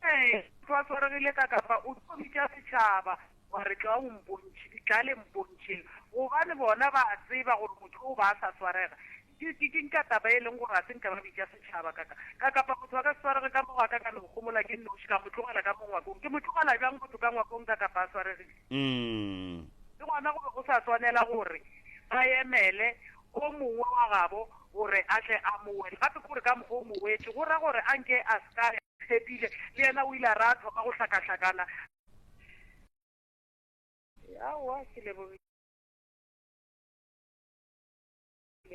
Ee, motho a swaregile ka kafa o tlo bitša setšhaba wa re tla o mpontšhe, tla le mpontšheng, gobane bona ba a tseba gore motho o ba a sa swarega. Ke, ke, ke nka taba e leng gore ga se nka ba bitša setšhaba ka ka, ka kafa motho a ka se swarege ka mo go a ka ka no gomola ke nnoši, ka mo tlogela ka mo ngwakong. Ke mo tlogela bjang motho ka ngwakong ka kafa a swaregile? Le gona go be go sa swanela gore ba emele o mongwe wa gabo gore a tle a mo wete. Gape ke gore ka mokgwa o mo wete, go ra gore a nke a se ka ya. Phepile le yena o ile a re a thoma go hlakahlakana. Aowa, ke lebogile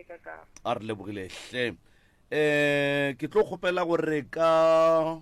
ka ka. A re lebogile hle. Eh, ke tlo kgopela gore ka.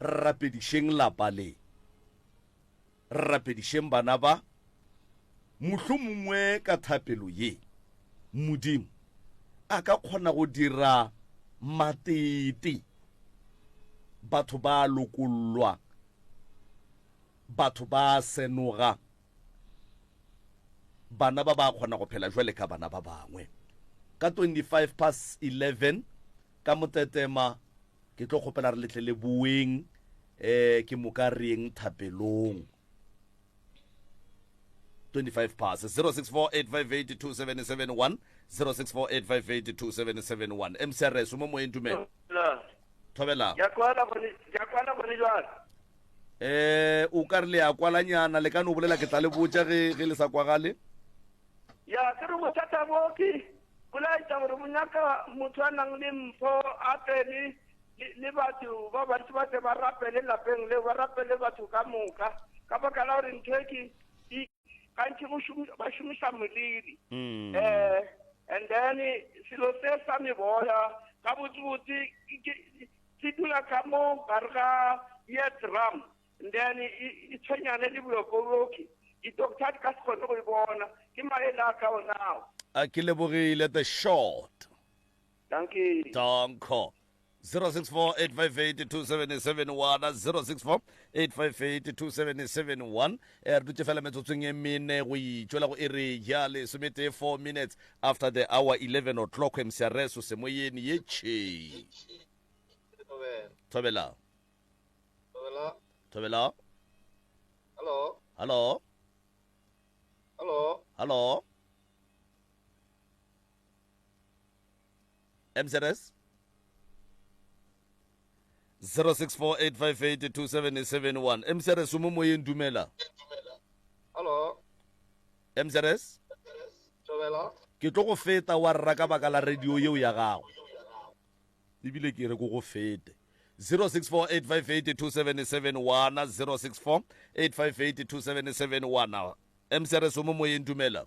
Re rapedišeng lapa le. Re rapedišeng bana ba. Mohlomongwe ka thapelo ye, Modimo a ka kgona go dira matete. Batho ba a lokollwa. Batho ba a senoga. Bana ba ba kgona go phela bjale ka bana ba bangwe. Ka 25 past 11 ka Motetema ke tlo kgopela re letle le boeng eh ke moka reng thapelong. 25 past 0648582771 0648582771 MCRS mo moeng dumela. Thobela. Ke a kwala gone, ke a kwala gone jwale. eh o ka re le ya kwalanyana le ka no bolela ke tla le botša ge ge le sa kwagale ya ke re bothata bo ke bolaetša gore bo nyaka motho a nang le mpho a tsene le batho ba bantši ba tle ba rapele lapeng leo ba rapele batho ka moka ka baka la gore ntho e ke gantši go šomi- ba šomiša moliri Mm. eh and then selo se sa meboya ka botsebotse ke- ke- se dula ka mo gare ga ye drum and then e- e e tshwenyane le bolokoloki di-doctor di ka se kgone go e bona ke maele a ka onao a ke lebogile the short Dankie. Danko. 0648582771 0648582771 eh, re dutse fela metsotsong e mene go itšwela go ere ya lesometee 4 minutes after the hour 11 o'clock emseareso semoyeni ye tšhei thobela thobela hallo hallo hallo mzs 0648582771 mzs o mo moyeng dumela Hello. mzs Tobela. ke tlo go feta wa rra ka baka la radio yeo ya gago ebile ke re ko go fete 0648582771 0648582771 msrs o mo moyeng dumela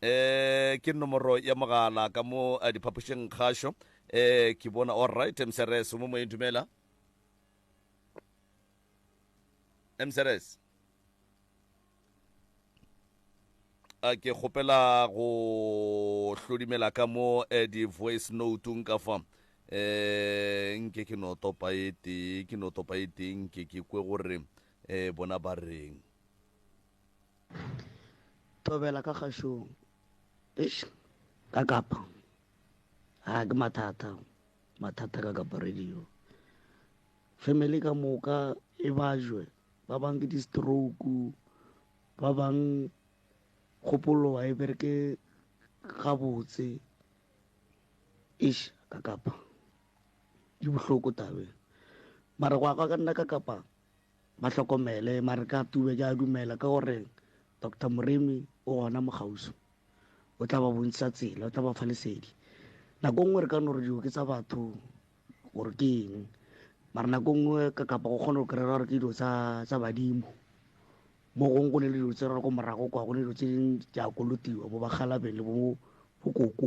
E, ke nomoro ya mogala ka mo eh, diphapošeng kgašo. E, ke bona all right msrs mo moyeng dumela msrs a ke kgopela go hlodimela ka mo eh, di-voice notung ka fa eh nke ke no topa e tee ke no topa e tee nke ke kwe gore eh bona ba reng thobela ka kgašong eish ka kapa a ke mathata mathata ka kapa radio family ka moka e bajwe ba bang ke di-stroke ba bang kgopolo wa e bereke gabotse eish ka kapa di bohloko tabe mara go ya ka nna ka kapa Ba hlokomele, mare ka tube ke a dumela ka gore Doctor Moremi o gona mo kgauswi. O tla ba bontšha tsela, o tla ba fa lesedi. Nako nngwe re ka no re dilo ke tsa batho gore ke eng, mara nako nngwe ka kapa go kgona go kry-a gore ke dilo tsa badimo. Mo gongwe go ne le dilo tse re re ko morago kwa, go ne dilo tse dingwe di a kolotiwa bo ba kgalabeng le bo koko.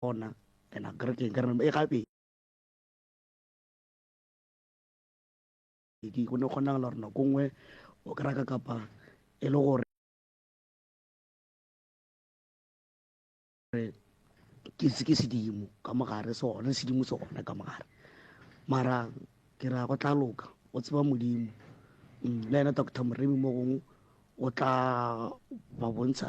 Gona and a kere keng ka re e gape di go ne kgonagala gore nako nngwe o kry ka kapa e le gore ke se ke sedimo ka mogare se gone sedimo se gone ka mogare mara ke ra go tla loka o tseba modimo mm, le ena doctor moremi mo gongwe o tla ba bontsha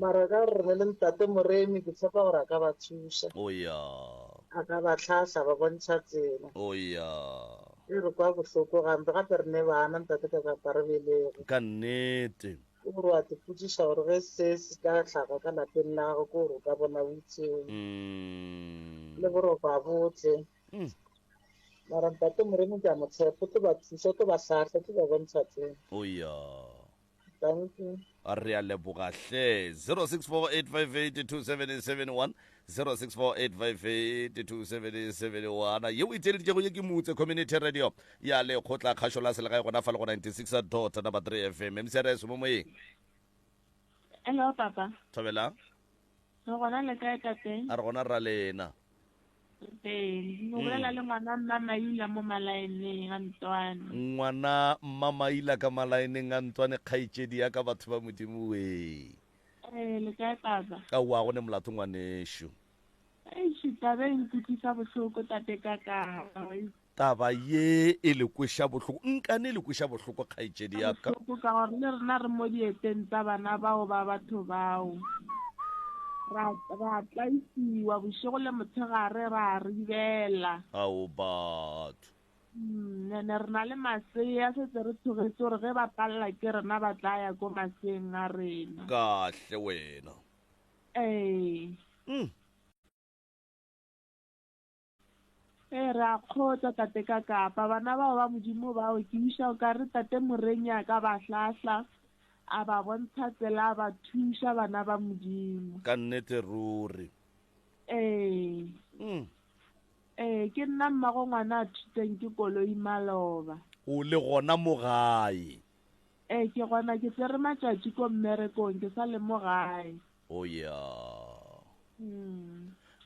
mara ka gore ne le ntate moremi ke tshepa gore a ka ba thuša a ka ba tlhahla ba bontšha tsela e re kwa bohloko gampe gape re ne bana ntate ka kapa re belego ka nnete ke gore wa tepotsiša gore ge se se ka tlhaga ka lapeng la gago ke gore o ka bona utseo le boroba botle mara ntate moremi ke a motshepo tlo ba thuša tlo ba tlhahla tlo ba bontšha tsela Thank you. re a leboga hle 0648582771 0648582771 yeo e tšeleditšego ye ke motse community radio ya lekgotla kgašo la selegae gona fa le go 96 dot number 3 fm mcrs mo moyeng Hello, Papa. thobela Re gona le kae tate? A re gona rra lena. Ee, mo mm. bolela le ngwana mma Maila mo malaeneng a Ntswane. Ngwana mma Maila ka malaeneng a Ntswane kgaitšedi ya ka batho ba modimo we. Ee, le kae baba? A wa go ne molato ngwanešu. Eish, tabe e nkutlwisa bohloko tate ka ka. Taba ye e le kweša bohloko. Nkane e le kweša bohloko, kgaetšedi ya ka. Bohloko ka gore le rena re mo dieteng tsa bana bao ba batho bao. Ra, ra tlaisiwa bošego le motshegare, ra ribela. Ao batho! Mm, ene re na le masea, setse re thogetše gore ge ba palela ke rena ba tla ya ko maseeng a rena. Kahle wena. Ee. Mm. Ee, re a kgotsa, Tate ka Kapa. Bana bao ba Modimo bao, ke wiša o ka re Tate Morenya ka ba hlahla, a ba bontsha tsela, a ba thuša bana ba Modimo. Ka nnete ruri. Ee. Mm. Ee, ke nna mmago ngwana a thutseng ke koloi maloba. O le gona mo gae? Ee, ke gona ke tsere matšatši ko mmerekong, ke sa le mo gae. Oh yeah.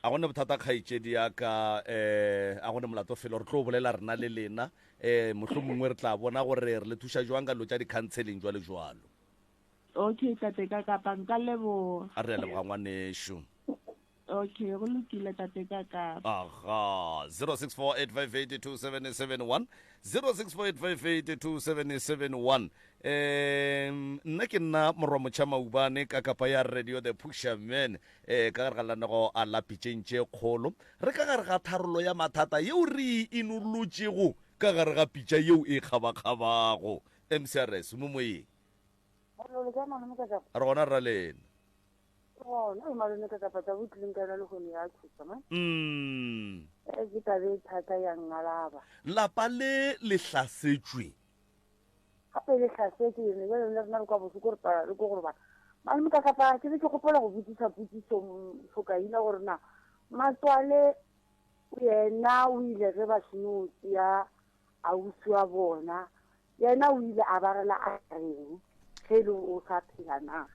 A go ne bothata kgaetšedi ya ka eh a go ne molato felo re tlo bolela rena le lena eh mohlomongwe re tla bona gore re le thuša jwang ka dilo tša di-counseling jwalo jwalo Okay, tate ka kapa nka leboga. a re a leboga ngwanešu Okay, go lokile tate ka kapa. aha 0648582771 0648582771 um nna ke nna morwa motšha maubane ka kapa ya radio the pusherman um ka gare ga lanego a lapitšeng tše kgolo re ka gare ga tharolo ya mathata yeo re e inolotšego ka gare ga pitša yeo e kgabakgabago mcrs mo moyeng re gona ra lena mm. lapa le le hlasetšwe gape le tlhasetse yone bjale le rena re kwa bohloko re pala le ko go robala mane mokatlapaa ke be ke gopola go botsisa potsiso tlhokaina gore na matswale yena o ile ge ba seno tseya ausi wa bona yena o ile a ba rela a reng ge e le o sa phela na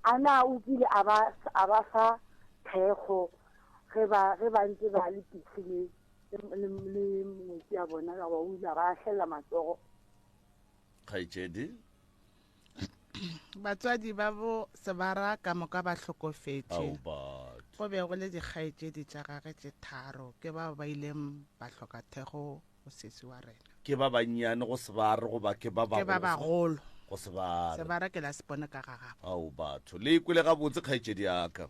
a na o kile a ba fa thekgo ge ba ntse ba le pitlheleng le metsi a bona ka ba o ile ba ahlelela matsogo kgaetšedi batswadi ba bo sebara ka moka ba hlokofetše go be go le dikgaetšedi tša gage tše tharo ke bao ba ileng ba hloka thego go sesi wa rena ke ba bannyane go sebare goba ke ba bagolo go sebare sebare ke la sepone ka ga gago ao batho le ikwele gabotse kgaetšedi yaka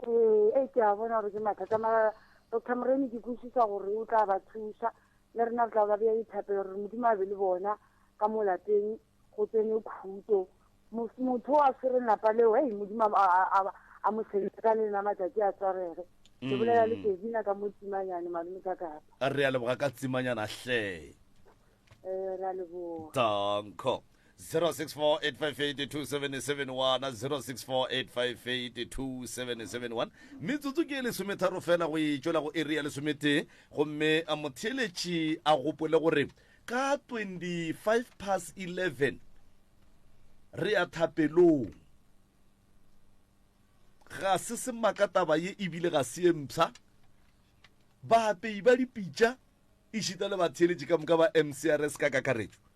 ee e ke a bona gore ke mathata mara doctor moremi ke kwešiša gore o tla ba thuša le rena re tla ba bea dithapelo gore modimo a be le bona ka mo lapeng go tsene khuto motho o a tshwereng lapa leo ei modimo a mo sebetsa ka le ena matšatši a tswarege ke bolela le kevina ka mo tsimanyane malome ka kapa re a leboga ka tsimanyana hle ee ra leboga danko 0648582771 metsotso ke e lesometharo fela go e tšwela go eri ya lesometee gomme a motheeletši a gopole gore ka 25 pass 11 re ya thapelong ga se semaka taba ye ebile ga se ye mpsha baapei ba dipitša e šita le batheeletši ka moka ba mcrs ka kakaretšo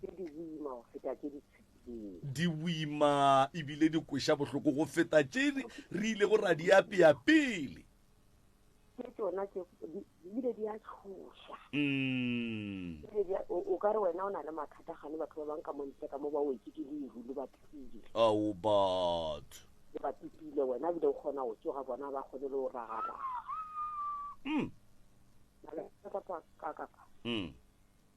tše di boima go feta tše di tshepilego. Di boima e bile di kweša bohloko go feta tše re ilego ra di apea pele. Ke tšona tše di bile di a tšhoša. Mm. O ka re wena o na le mathata gane batho ba bang ka montle ka mo ba wetse ke leru le ba pipile. Ao batho. Le ba pipile wena bile o kgona go tsoga bona ba kgone le go ragaraga. Mm. Ka kapa. Mm.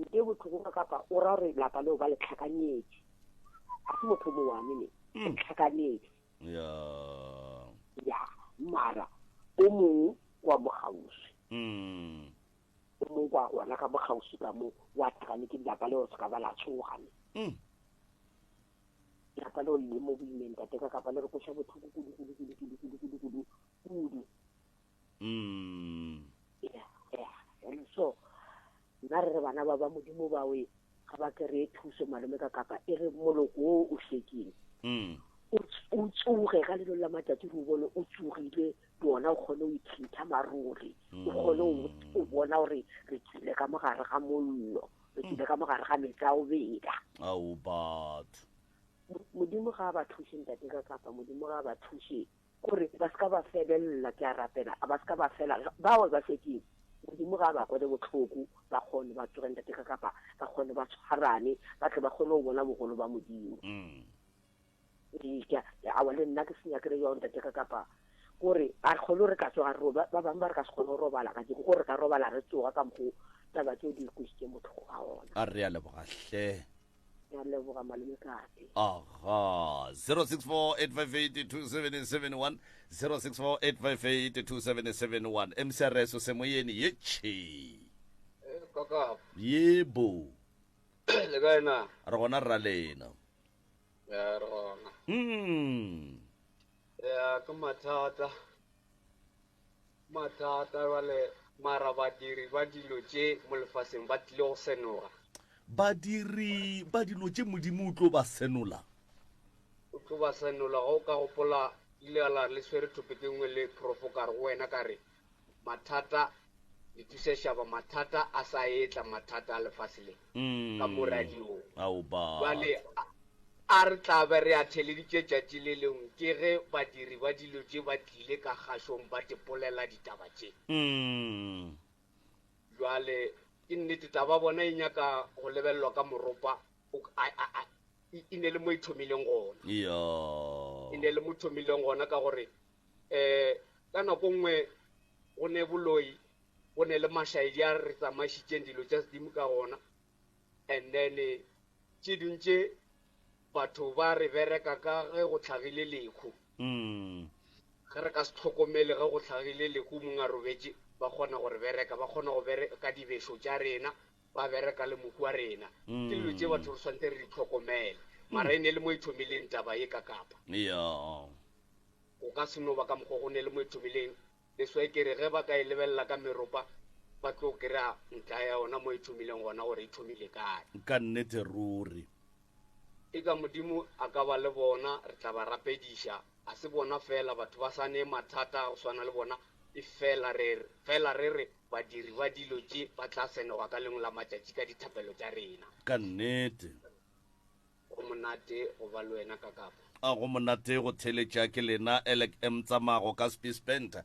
nke botlhoko ka kapa o ra gore lapa leo ba le tlhakanyetše a se motho mo one ne mm. tlhakanyetše ya ya mara o mongwe kwa bogausi mm. o mongwe kwa gona ka bogausi ka mo wa tlhakane ke lapa leo se ka ba la tshogane mm. lapa leo le mo boimeng tateka kapa le re koša botlhoko kudu kudu kudu kudu kudu kudu kudu kudu Mm. Yeah, yeah. And so, nna re re bana ba ba modimo bawe ga ba kry-e thuso malome ka kapa e re moloko o o hlekeng Mm. o ts- o tsoge ka lelo la matšatši re o bone o tsogile le ona o kgone o ithinta maruri o kgone o o bona gore re tsile ka mogare ga mollo re tsile ka mogare ga metsi a o beda Ao batho. Mo- modimo ga a ba thuše ntate ka kapa modimo ga a ba thuše Gore ba se ka ba febelela, ke a rapela, a ba se ka ba fela. Bao ba fedile, Modimo ga a ba kwele bohloko, ba kgone ba tsoge ntate ka kapa ba kgone ba tshwarane, ba tle ba kgone go bona bogolo ba Modimo. Ee, ke a, awa le nna ke se nyakele bjao ntate ka kapa gore a re kgone re ka tsoga re roba. Ba bangwe ba re ka se kgone go robala ka jeko, gore re ka robala re tsoga ka mokgo taba tse o di kwešitšeng bohloko ga ona. A re a leboga hle. ya leboga malome kae aha 0648582771 0648582771 mcrs o semoyeni ye che eh, ye bo le kae na re gona rra lena ya re gona mm ya ke mathata Mathata bjale, mara badiri ba dilo tše mo lefaseng ba tlile go senoga. Badiri ba dilo tše Modimo o tlo ba senola. O tlo ba senola. Ge o ka gopola, Ile a la re le swere thopetše nngwe le profo ka re go wena, ka re, Mathata Di thusa šaba mathata a sa etla mathata a lefase le ka mo radiong. Bjale a re tla be re a theleditše tšatši le lengwe ke ge badiri ba dilo tše ba tlile ka kgašong ba tipolela ditaba tše. Bjale ke nnete taba bona e nyaka go lebelelwa ka moropa o a a a e ne le mo e thomileng gona. E ne le mo thomileng gona ka gore um ka nako nngwe go ne boloi go ne le mašaedi a re tsamaišitšeng dilo tša sedimo ka gona and then tše dingwe tše batho ba re bereka ka ge go tlhagile lekhu mm. ge re ka se tlhokomele ge go tlhagile lekhu mong a robetše ba kgona go re bereka ba kgona go bereka dibešo tša rena ba bereka le mohu wa rena, ke dilo tše batho re swantse re di hlokomele, mara e ne le mo e thomileng taba ye ka Kapa. Yeah. Go ka se no ba ka mokgwa go ne le mo e thomileng, that's why ke re ge ba ka e lebelela ka meropa ba tlo kry-a ntla ya yona mo e thomileng gona gore e thomile kae. Ka nnete ruri. Eka Modimo a ka ba le bona, re tla ba rapediša. Ga se bona feela batho ba sa ne mathata a go swana le bona, efela re fela re re badiri ba dilo tše ba tla senogwa ka lengwe la matšatši ka dithapelo tša rena. Ka nnete. Go monate go ba le wena, Kakapa. A go monate go theeletša ke lena, Elek. M. Tsamago ka Spiesbenter.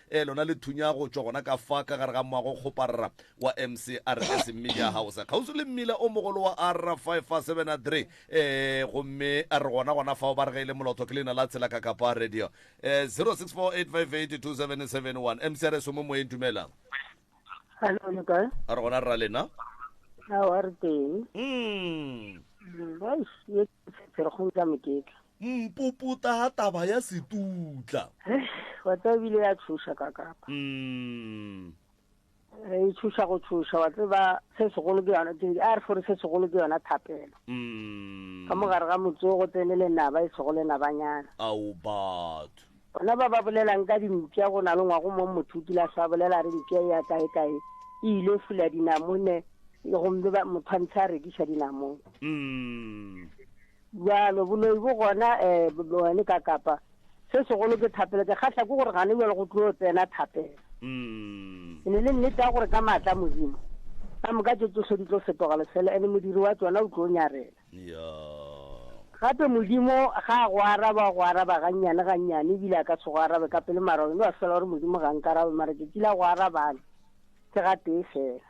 Ee, lona le thunya go tšwa gona ka fa ka gare ga moago kgoparra wa MCRS Media House, kgauswi le mmila o mogolo wa R573. Ee, gomme re gona gona fao ba re ge e le molotho ke leina la tsela ka Kapa Radio. Ee, 0648582771. MCRS o mo moyeng, dumelang. Hello, le kae? Re gona rra lena. Ao, a re teng. Mm. Mm, eish, ye Pherekgong tša Moketla. Mpuputa ga taba ya Setutla. Wa tseba ebile ya tšhoša ka kapa. Umm. Re e tšhoša go tšhoša wa tseba se segolo ke yona ke a re gore se segolo ke yona thapelo. Umm. Ka mogare ga motsogo tsene le naba e sego le nabanyana. Ao batho. Bona ba ba bolelang ka dimpša go na le ngwago mo motho o kile a hlwa bolela a re mpša e ya kaekae e ile fula dinamone gomme ba motho a ntsha a rekiša dinamone. Mm. Bjalo, boloi bo gona um bone ka kapa. Se segolo ke thapelo. Ke kgahla ke gore gane bjalo go tlo tsena thapelo. Mm. E ne le nnete ya gore ka maatla a Modimo, ka moka tše tšohle di tlo fetoga lefelo, ene modiri wa tšona o tlo nyarela. Gape Modimo ga a go araba, o go araba gannyane, gannyane, ebile a ka se go arabe ka pele, mara wena wa fela o re, Modimo ga a nkarabe, mara tšatši la go arabang ke gatee fela.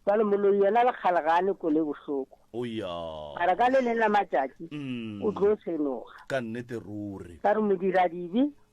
Bjale moloi yena le kgale ga a ne kole e bohloko, mara ka le leng la matšatši o tlo senoga. Ka re modiradibe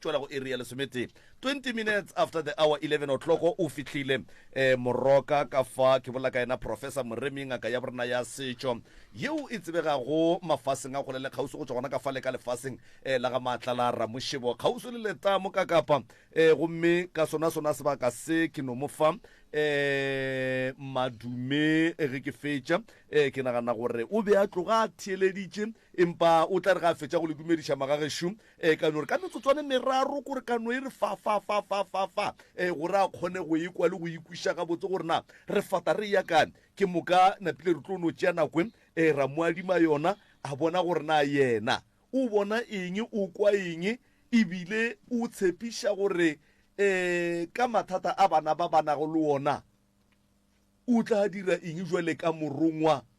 Tšwela go iri ya lesometee, 20 minutes after the hour, 11 o'clock, o fihlile um Moroka. Ka fa ke bolela ka yena Professor Moremi, ngaka ya borena ya setšo yeo e tsebegago mafaseng a kgole le kgauswi go tšwa gona ka fale ka lefaseng um la ga Maatla la Ramošebo, kgauswi le letamo ka Kapa. Um gomme ka sonasona sebaka se ke no mo fa um madume ge ke fetša. Um ke nagana gore o be a tloga a theeleditše Empa o tla re ge a fetša go le dumediša, Magagešo, ee, ka no re ka metsotswana e meraro kore ka no e re fa, fa, fa, fa, fa, fa, ee, gore a kgone go e kwa le go e kwiša gabotse gore na re fata re eya kae. Ke moka napile re tlo no tšea nako e, ee, ra mo adima yona, a bona gore na yena o bona eng, o kwa eng, e bile o tshepiša gore, ee, ka mathata a bana ba ba nago le ona, o tla dira eng bjale ka morongwa.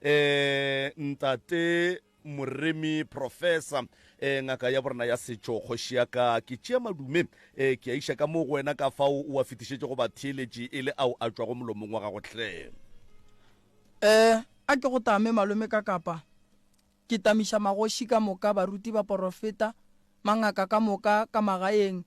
Eh, Ntate Moremi, Professor, eh, ngaka ya borena ya setšo, kgoši ya ka, ke tšea madume, eh, ke a iša ka moo go wena ka fao o a fetišetše go batheeletši e le ao a tšwago molomong wa gago hle. Eh, a ke go tame, malome, ka kapa ke tamiša magoši ka moka, baruti, baporofeta, mangaka ka moka, ka magaeng,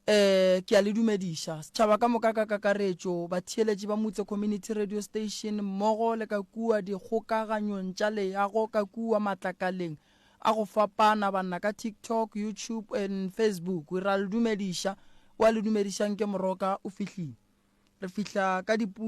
Ee, ke a le dumediša, setšhaba ka moka ka kakaretšo, batheeletši ba Motse Community Radio Station mmogo le ka kua dikgokaganyong tša leago ka kua matlakaleng a go fapana, banna ka TikTok, YouTube and Facebook. Ra le dumediša. O a le dumedišang ke moroka o fihlile. Re fihla ka dipu.